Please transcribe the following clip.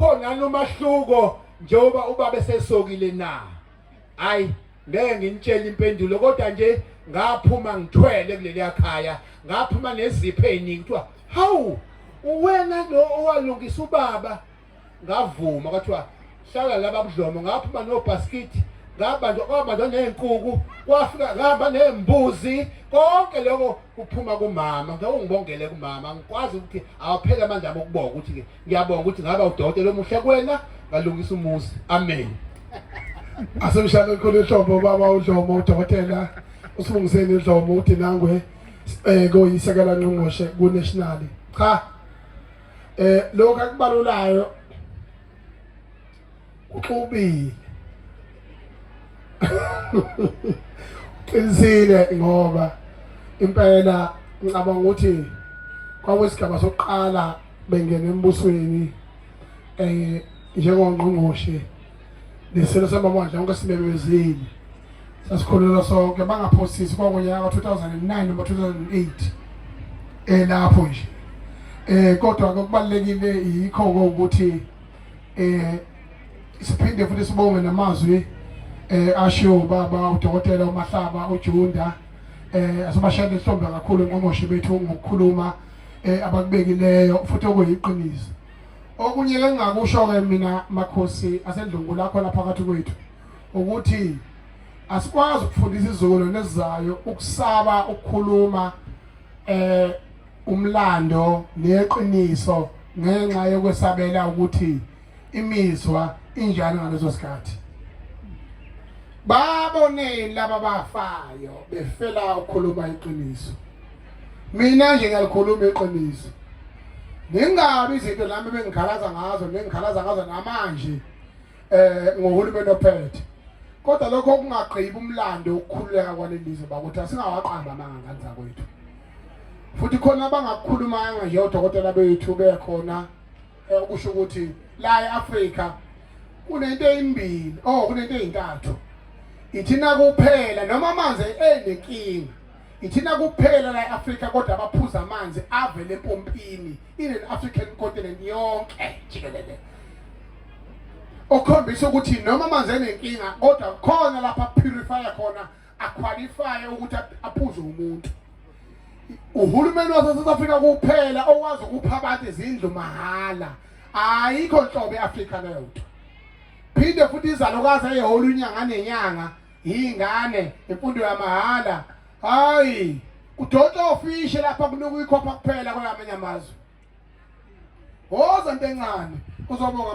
khona nomahluko njengoba ubaba esesokile na hayi ngeke nginitshele impendulo kodwa nje ngaphuma ngithwele kuleliya khaya ngaphuma nezipho eziningi kuthiwa hawu uwena lo owalungisa ubaba ngavuma kwathiwa hlala laba budlomo ngaphuma nobhaskithi ngabanjwa kwabanjwa ney'nkuku kwafika ngihamba ney'mbuzi konke lokho kuphuma kumama ngeke ungibongele kumama ngikwazi ukuthi awaphele amandla ami ukubonga ukuthi-ke ngiyabonga ukuthi ngaba udokotela omuhle kwena ngalungisa umuzi amen asemshana ekhona ihlobo baba udlomo udokotela usibungiseni idlomo uthi nangwe eh koyisekela ngqongqoshe ku national cha eh lokho akubalulayo uxubile qinisile ngoba impela ngicabanga ukuthi kwakuyisigaba sokuqala bengena embusweni eh njengongqongqoshe nesilo samabandla onke simemezile sasikhulula sonke bangaphosisi kwakunyaka ka-2009 noma 2008 elapho nje eh kodwa kokubalekile yikho ukuthi eh siphinde futhi sibonge namazwi eh ashiwo baba udokotela uMahlaba uJunda eh asibashayele ihlombe kakhulu nqongqoshe bethu ngokukhuluma eh abakubekileyo futhi okuyiqiniso okunye ke ngakusho ke mina makhosi asendlungu lakho lapha phakathi kwethu ukuthi asikwazi ukufundisa izolo nezizayo ukusaba ukukhuluma eh umlando neqiniso ngenxa yokwesabela ukuthi imizwa injani ngaleso sikhathi baboneni laba bafayo befela ukukhuluma iqiniso mina nje ngiyalikhuluma iqiniso ningabi izinto lami bengikhalaza ngazo nengikhalaza ngazo namanje eh ngohulumeni ophethe kodwa lokho kungagqibi umlando ukukhululeka kwalelizwe bakuthi asingawaqamba amanga ngani zakwethu futhi khona abangakukhulumanga nje odokotela bethu bekhona eh, ukusho ukuthi la eAfrika kunento eyimbili oh kunento ezintathu ithina kuphela noma amanzi enenkinga Ithina kuphela la eAfrika kodwa abaphuza amanzi avele empompini in an African continent yonke jikelele. Okhombisa ukuthi noma amanzi enenkinga kodwa khona lapha purifier khona aqualify ukuthi aphuze umuntu. Uhulumeni wase South Africa kuphela owazi ukupha abantu izindlu mahala. Ayikho nhlobo eAfrika leyo. Phinde futhi izalokazi eyehola unyanga nenyanga iy'ngane imfundo yamahhala hayi kudonsa ofishe lapha kunuka ikhopha kuphela kwelamanye amazwe woza nto encane uzobonga